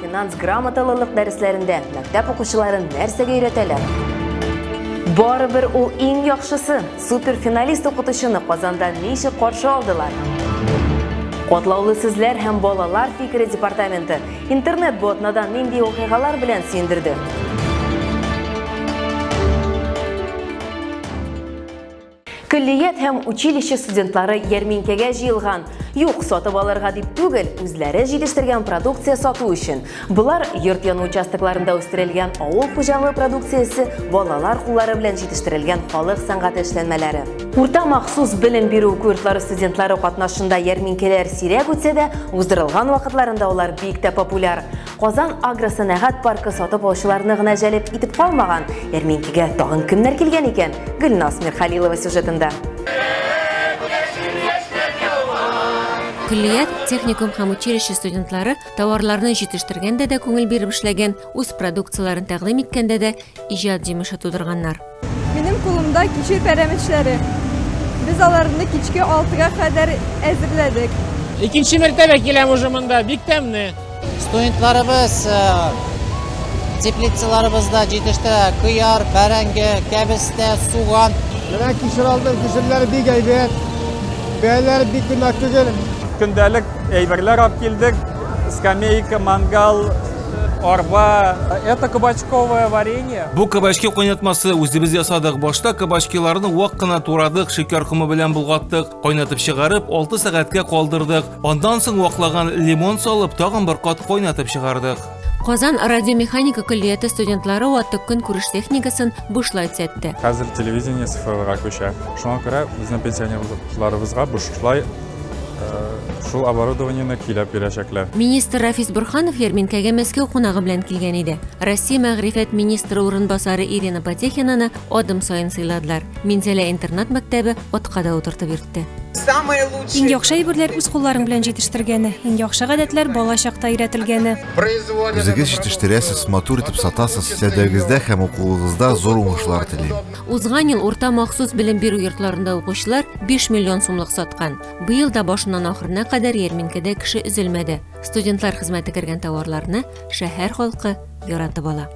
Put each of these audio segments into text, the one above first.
Финанс грамоталылык дәресләрендә мәктәп укучыларын нәрсәгә өйрәтәләр? Барыбер ул иң яхшысы. Суперфиналист укытучыны Казанда ничек каршы алдылар? Котлаулы сүзләр һәм балалар фикере департаменты интернет-ботнадан нинди вакыйгалар белән сөендерде? Көллият һәм училище студентлары ярминкәгә җыелган. Юк, сатып алырга дип түгел, үзләре җитештергән продукция сату өчен. Болар йорт яны участокларында үстерелгән авыл хуҗалыгы продукциясе, балалар куллары белән җитештерелгән халык сәнгате эшләнмәләре. Урта махсус белем бирү курслары студентлары катнашында ярминкәләр сирәк үтсә дә, уздырылган вакытларында алар бик тә популяр. Казан агросәнәгать паркы сатып алучыларны гына җәлеп итеп калмаган. Ярминкәгә тагын кемнәр килгән икән? Гөлназ Мирхалилова сюжетында. Көллият, техникум һәм училище студентлары товарларны җитештергәндә дә күңел биреп эшләгән, үз продукцияләрен тәкъдим иткәндә дә иҗат җимеше тудырганнар. Минем кулымда кичер пәрәмечләре. Без аларны кичке алтыга кадәр әзерләдек. Икенче мәртәбә киләм уже монда, бик тәмне. Студентларыбыз э, теплицаларыбызда җитештерә кыяр, бәрәңге, кәбестә, суган. Менә кишер алдым, кишерләр бик әйбәт. Бәяләре бик кыйммәт түгел. Көндәлек әйберләр алып килдек. Скамейка, мангал, Арба. Это кабачковое варенье. Бу кабачки кайнатмасы үзебез ясадык. Башта кабачкиларны вак кына турадык, шикәр комы белән болгаттык. Кайнатып чыгарып, 6 сәгатькә калдырдык. Андан соң ваклаган лимон салып, тагын бер кат кайнатып чыгардык. Казан радиомеханика көллияте студентлары ватык көн күреш техникасын бушлай төзәтте. Хәзер телевидение цифрларга күчә. Шуңа күрә безнең пенсионерларыбызга бушлай шул оборудованиене көйләп бирәчәкләр. Министр Рафис Бурханов ярминкәгә Мәскәү кунагы белән килгән иде. Россия мәгърифәт министры урынбасары Ирина Потехинаны адым саен сыйладылар. Минзәлә интернат мәктәбе атка да утыртып йөртте. Иң яхшы әйберләр үз кулларың белән җитештергәне, иң яхшы гадәтләр бала чакта өйрәтелгәне. Үзегез җитештерәсез, матур итеп сатасыз. Сәүдәгездә һәм укуыгызда зур уңышлар телим. Узган ел урта махсус белем бирү йортларында укучылар 5 миллион сумлык саткан. Быел да башыннан ахырына кадәр ярминкәдә кеше өзелмәде. Студентлар хезмәте кергән товарларны шәһәр халкы яратып ала.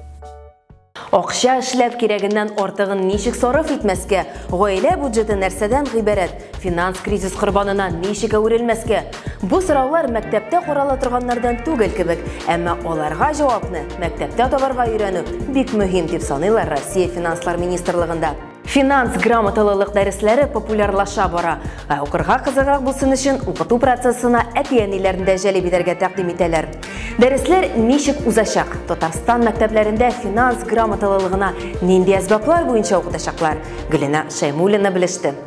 Акча эшләп кирәгеннән артыгын ничек сарыф итмәскә? Гаилә бюджеты нәрсәдән гыйбарәт? Финанс кризис корбанына ничек әверелмәскә? Бу сораулар мәктәптә карала торганнардан түгел кебек, әмма аларга җавапны мәктәптә табарга өйрәнү бик мөһим дип саныйлар Россия финанслар министрлыгында. Финанс грамоталылык дәресләре популярлаша бара, ә укырга кызыграк булсын өчен укыту процессына әти-әниләрне дә җәлеп итәргә тәкъдим итәләр. Дәресләр ничек узачак? Татарстан мәктәпләрендә финанс грамоталылыгына нинди әсбаплар буенча укытачаклар? Гөлинә Шәймуллина белеште.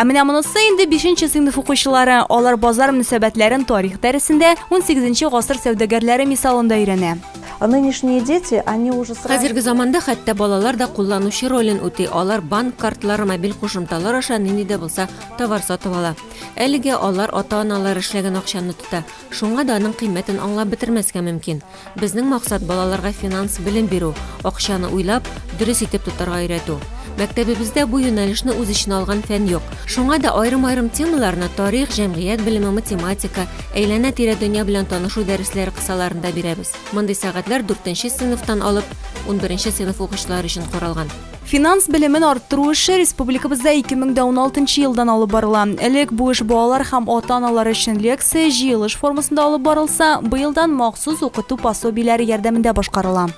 Ә менә монысы инде 5нче сыйныф укучылары. Алар базар мөнәсәбәтләрен тарих дәресендә 18нче гасыр сәүдәгәрләре мисалында өйрәнә. А нынешние дети, они уже сразу... Хәзерге заманда хәтта балалар да кулланучы ролен үти. Алар банк картлары, мобиль кушымталар аша нинди дә булса товар сатып ала. Әлегә алар ата-аналар эшләгән акчаны тота. Шуңа да аның кыйммәтен аңлап бетермәскә мөмкин. Безнең максат, балаларга финанс белем бирү, акчаны уйлап, дөрес итеп тотарга өйрәтү. Мәктәбебездә бу юнәлешне үз эченә алган фән юк. Шуңа да аерым-аерым темаларны, тарих, җәмгыять белеме, математика, әйләнә-тирә дөнья белән танышу дәресләре кысаларында бирәбез. Мондый сәгатьләр дүртенче сыйныфтан алып унберенче сыйныф укучылары өчен каралган. Финанс белемен арттыру эше республикабызда 2016 елдан алып барыла. Элек бу эш балалар һәм ата-аналар өчен лекция, җыелыш формасында алып барылса, быелдан махсус укыту пособиеләре ярдәмендә башкарыла.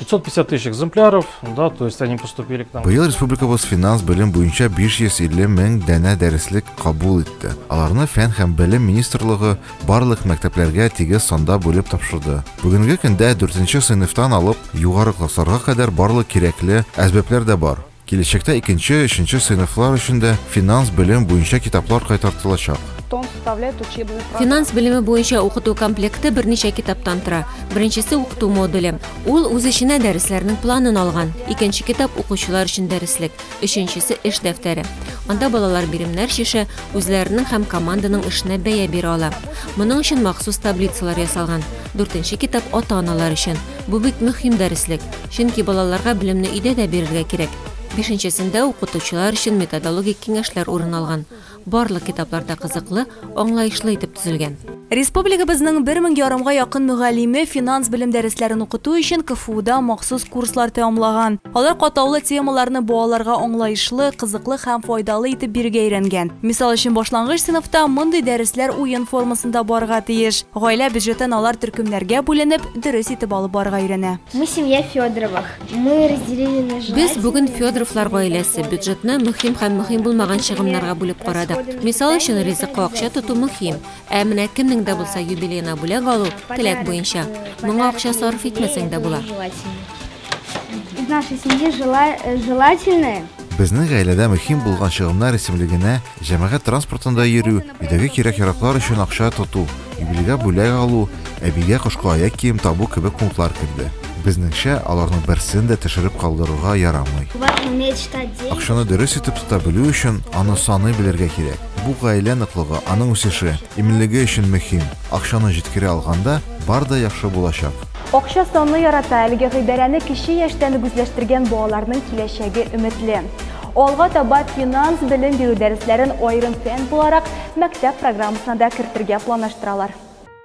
550 тысяч экземпляров, да, то есть они поступили к нам. Быел республикабыз финанс белем буенча 550 мең дәнә дәреслек кабул итте. Аларны фән һәм белем министрлыгы барлык мәктәпләргә тигез санда бүлеп тапшырды. Бүгенге көндә дүртенче сыйныфтан алып югары классларга кадәр барлык кирәкле әзбәпләр дә бар. Киләчәктә икенче, өченче сыйныфлар өчен дә финанс белем буенча китаплар кайтартылачак. Финанс белеме буенча укыту комплекты берничә китаптан тора. Беренчесе укыту модуле. Ул үз эченә дәресләрнең планын алган. Икенче китап укучылар өчен дәреслек. Өченчесе эш дәфтәре. Анда балалар биремнәр шише үзләренең һәм команданың эшенә бәя бирә ала. Моның өчен махсус таблицалар ясалган. Дүртенче китап ата-аналар өчен. Бу бит мөһим дәреслек, чөнки балаларга белемне өйдә дә бирергә кирәк. Бишенчесендә укытучылар өчен методологик киңәшләр урын алган. Барлык китаплар да кызыклы, аңлаешлы итеп төзелгән. Республикабызның бер мең ярымга якын мөгаллиме финанс белем дәресләрен укыту өчен КФУда махсус курслар тәмамлаган. Алар катлаулы темаларны балаларга аңлаешлы, кызыклы һәм файдалы итеп бирергә өйрәнгән. Мисал өчен башлангыч сыйныфта мондый дәресләр уен формасында барырга тиеш. Гаилә бюджетын алар төркемнәргә бүленеп, дөрес итеп алып барырга өйрәнә. Мы семья Федоровых. Мы разделили на желательные... Без бүген Федоровлар гаиләсе бюджетны мөһим һәм мөһим булмаган чыгымнарга бүлеп карадык. Мисал өчен ризыкка акча тоту мөһим, ә менә кемнең дә булса юбилейна бүләк алу теләк буенча. Моңа акча сарыф итмәсәң дә була. Из нашей семьи э, желательное. Безнең гаиләдә мөһим булган чыгымнар исемлегенә Җәмәгать транспортында йөрү, өйдәге кирәк-яраклар өчен акча тоту, юбилейга бүләк алу, әбигә кышкы аяк кием табу кебек пунктлар керде. Безнеңчә, аларның берсен дә төшереп калдырырга ярамый. Акчаны дөрес итеп тота белү өчен, аны саный белергә кирәк. Бу гаилә ныклыгы, аның үсеше, иминлеге өчен мөһим. Акчаны җиткерә алганда, бар да яхшы булачак. Акча санны ярата, әлеге гыйбарәне кече яшьтән үк үзләштергән балаларның киләчәге өметле. Алга таба финанс белем бирү дәресләрен аерым фән буларак мәктәп программасына да кертергә планлаштыралар.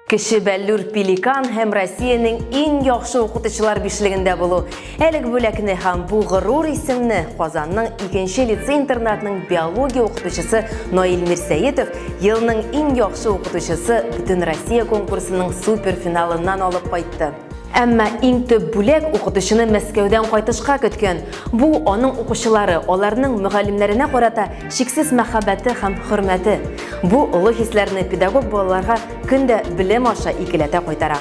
Кече Бәллүр Пеликан һәм Россиянең иң яхшы укытучылар бишлегендә булу. Әлеге бүләкне һәм бу горур исемне Казанның икенче лицей-интернатның биология укытучысы Наил Мирсәетов елның иң яхшы укытучысы бөтен Россия конкурсының суперфиналыннан алып кайтты. Әмма иң төп бүләк укытучыны Мәскәүдән кайтышка көткән. Бу аның укучылары, аларның мөгаллимнәренә карата чиксез мәхәббәте һәм хөрмәте. Бу олы хисләрне педагог балаларга көн дә белем аша икеләтә кайтара.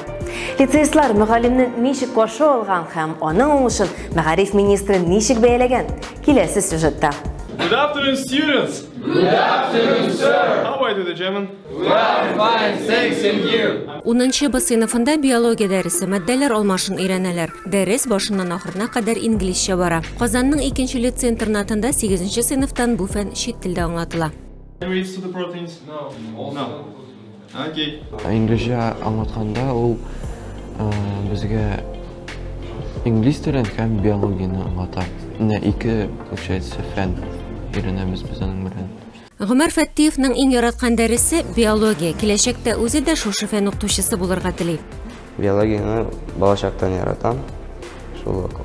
Лицеистлар мөгаллимне ничек каршы алган һәм аның уңышын мәгариф министры ничек бәяләгән? Киләсе сюжетта. Good afternoon, students! Good afternoon, sir! How are you today, German? Унынчы Б сыйныфында биология дәресе, матдәләр алмашын өйрәнәләр. Дәрес башыннан ахырына кадәр инглизчә бара. Казанның икенче лицей-интернатында сигезенче сыйныфтан бу фән чит телдә аңлатыла. Инглизчә аңлатканда ул безгә инглиз телен һәм биологияне аңлата. Менә ике, получается, фән өйрәнәбез без аның белән. Гомәр Фәттиевның иң яраткан дәресе, биология, киләчәктә үзе дә шушы фән укытучысы булырга тели. Биологияне балачактан яратам, шул ук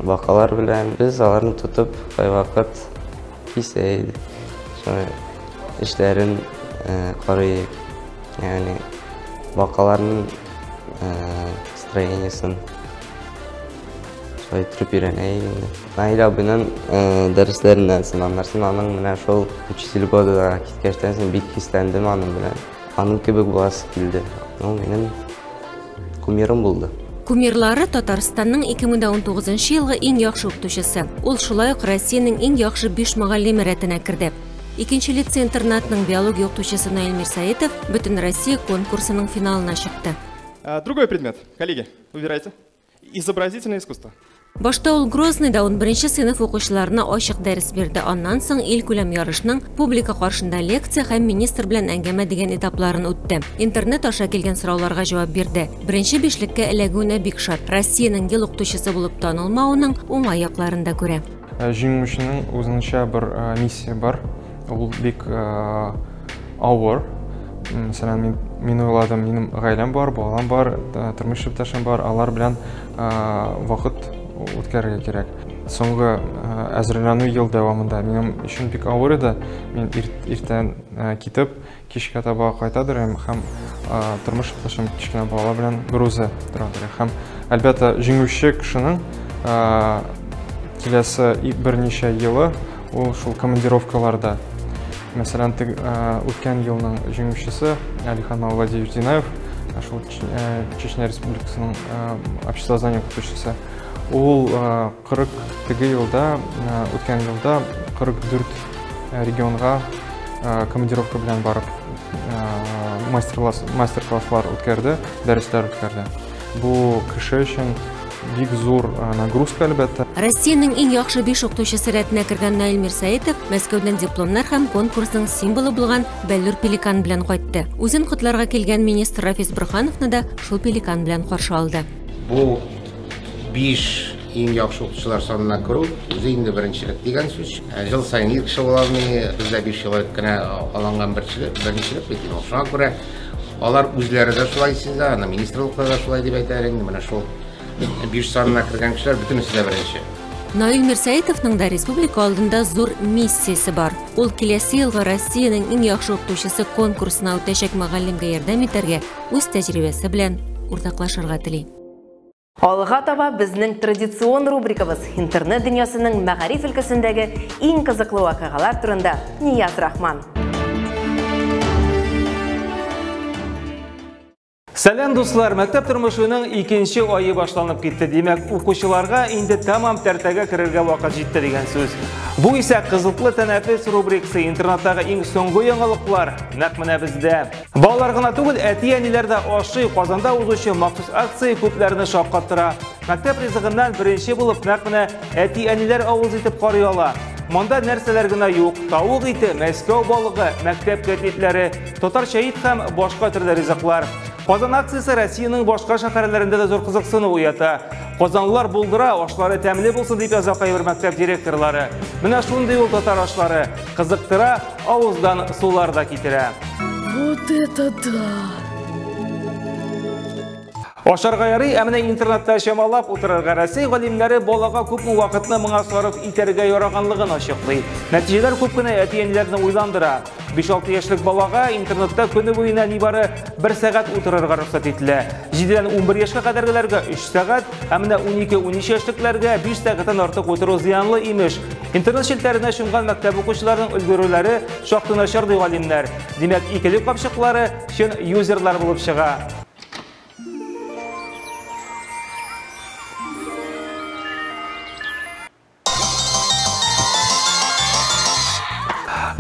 бакалар белән. Без аларны тотып, кайвакыт кисә идек, шуны эшләрен карыйк, ягъни бакаларның строениясен шулай иттереп өйрәнә идек. Наил абыйның дәресләреннән сынамнар сынаның менә шул учительгодыда киткәчтән соң бик хисләндем аның белән. Аның кебек буласы килде. Ул минем кумирым булды. Кумирлары Татарстанның 2019 елгы иң яхшы укытучысы. Ул шулай ук Россиянең иң яхшы 5 мөгаллиме рәтенә керде. Икенче лицей-интернатның биология укытучысы Наил Мирсаитов бөтен Россия конкурсының финалына чыкты. Э, другой предмет, коллеги, выбирайте. Изобразительное искусство. Башта ул Грозныйда унберенче сыйныф укучыларына ачык дәрес бирде. Аннан соң илкүләм ярышның публика каршында лекция һәм министр белән әңгәмә дигән этапларын үтте. Интернет аша килгән сорауларга җавап бирде. Беренче бишлеккә эләгүенә бик шат. Россиянең ел укытучысы булып танылмавының уңай якларын да күрә. Җиңүченең үзенчә бер миссия бар. Ул бик авыр. Мәсәлән, мин, мин уйладым, минем гаиләм бар, балам бар, тормыш иптәшем бар, алар белән вакыт үткәрергә кирәк. Соңгы әзерләнү ел дәвамында минем өчен бик авыр иде. Мин иртән китеп, Кичкә таба кайтадыр һәм һәм тормыш иптәшем кечкенә балалар белән берүзе торадыр. Һәм әлбәттә, җиңүче кешенең киләсе берничә елы ул шул командировкаларда. Мәсәлән, үткән елның җиңүчесе Алихан Мавладиевич Динаев, шул Чечня Республикасының обществознание укытучысы. Ул Кырык теге елда, үткән елда 44 регионга командировка белән барып мастер-класслар үткәрде, дәресләр үткәрде. Бу кеше өчен бик зур нагрузка әлбәттә. Россиянең иң яхшы биш укытучысы рәтенә кергән Наил Мирсәетов Мәскәүдән дипломнар һәм конкурсның символы булган Бәллүр пеликаны белән кайтты. Үзен котларга килгән министр Рафис Борхановны да шул пеликан белән каршы алды. Бу Биш иң яхшы укытучылар санына керү үзе инде беренчелек дигән сүз. Ә жыл сайын ир кеше була алмый, бездә биш ел элек кенә алынган беренчелек, беренчелек бит инде. Шуңа күрә алар үзләре дә шулай сизә, аны министрлыклар да шулай дип әйтәләр инде. Менә шул биш санына кергән кешеләр бөтенесе дә беренче. Наил Мирсәетовның да республика алдында зур миссиясе бар. Ул киләсе елга Россиянең иң яхшы укытучысы конкурсына үтәчәк мөгаллимгә ярдәм итәргә, үз тәҗрибәсе белән уртаклашырга тели. Алга таба безнең традицион рубрикабыз интернет дөньясының мәгариф өлкәсендәге иң кызыклы вакыйгалар турында Нияз Рахман. Сәлам дуслар, мәктәп тормышының икенче айы башланып китте. Димәк, укучыларга инде тамам тәртәгә керергә вакыт җитте дигән сүз. Бу исә кызыклы тәнәфес рубрикасы интернаттагы иң соңгы яңалыклар. Нәкъ менә бездә. Балалар гына түгел, әти-әниләр дә ашый. Казанда узучы махсус акция күпләрне шаккаттыра. Мәктәп ризыгыннан беренче булып нәкъ менә әти-әниләр авыз итеп карый ала. Монда нәрсәләр генә юк. Тавык ите, Мәскәү балыгы, мәктәп кәтлитләре, татарча ит һәм башка төрле ризыклар. Казан акциясе Россиянең башка шәһәрләрендә дә зур кызыксыну уята. Казанлылар булдыра, ашлары тәмле булсын дип яза кайбер мәктәп директорлары. Менә шундый ул татар ашлары. Кызыктыра, авыздан сулар да китерә. Вот это да! Ашарга ярый, ә менә интернетта чамалап утырырга Россия галимнәре балага күпме вакытны моңа сарыф итәргә яраганлыгын ачыклый. Нәтиҗәләр күп кенә әти-әниләрне уйландыра. 5-6 яшьлек балага интернетта көне буена нибары 1 сәгать утырырга рөхсәт ителә. 7-дән 11 яшькә кадәргеләргә 3 сәгать, ә менә 12-13 яшьлекләргә 5 сәгатьтән артык утыру зыянлы имеш. Интернет челтләренә чумган мәктәп укучыларының өлгерүләре шактый начар ди галимнәр. Димәк, икеле капчыклары чын юзерлар булып чыга.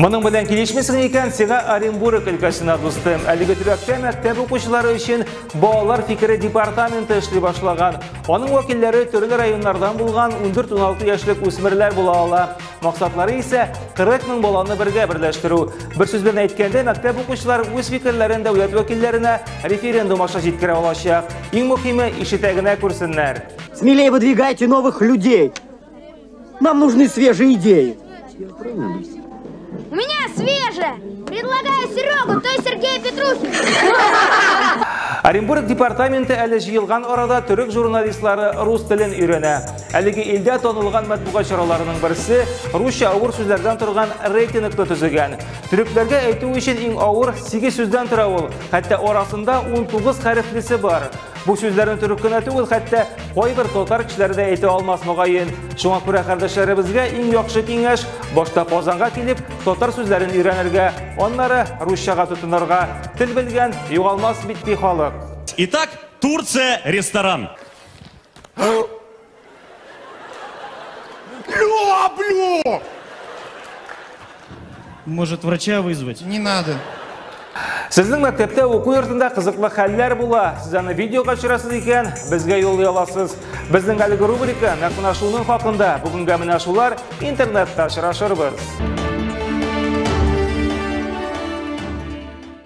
Моның белән килешмисең икән, сиңа Оренбург өлкәсенә дустым. Әлеге төбәктә мәктәп укучылары өчен балалар фикере департаменты эшли башлаган. Аның вәкилләре төрле районнардан булган 14-16 яшьлек үсмерләр була ала. Максатлары исә 40 мең баланы бергә берләштерү. Бер сүз белән әйткәндә, мәктәп укучылар үз фикерләрен дәүләт вәкилләренә референдум аша җиткерә алачак. Иң мөһиме, ишетә генә күрсеннәр. Смелее выдвигайте новых людей. Нам нужны свежие идеи. У меня свежая! Предлагаю Серегу, то есть Сергея Петрухина. Оренбург департаменты әле җыелган арада төрек журналистлары рус телен өйрәнә. Әлеге илдә танылган матбугат чараларының берсе русча авыр сүзләрдән торган рейтингны төзегән. Төрекләргә әйтү өчен иң авыр 8 сүздән тора ул, хәтта арасында 19 хәрефлесе бар. Бу сүзләрне төрек кенә түгел, хәтта кайбер татар кешеләре дә әйтә алмас мөгаен. Шуңа күрә кардәшләребезгә иң яхшы киңәш башта Казанга килеп, татар сүзләрен өйрәнергә, аннары русчага тотынырга. Тел белгән югалмас бит ди халык. Итак, Турция ресторан. Бля, бля! Может, врача вызвать? Не надо. Сезнең мәктәптә уку йортында кызыклы хәлләр була. Сез аны видеога төшерәсез икән, безгә юл яласыз. Безнең әлеге рубрика нәкъ менә шуның хакында. Бүгенгә менә шулар интернетта очрашырбыз.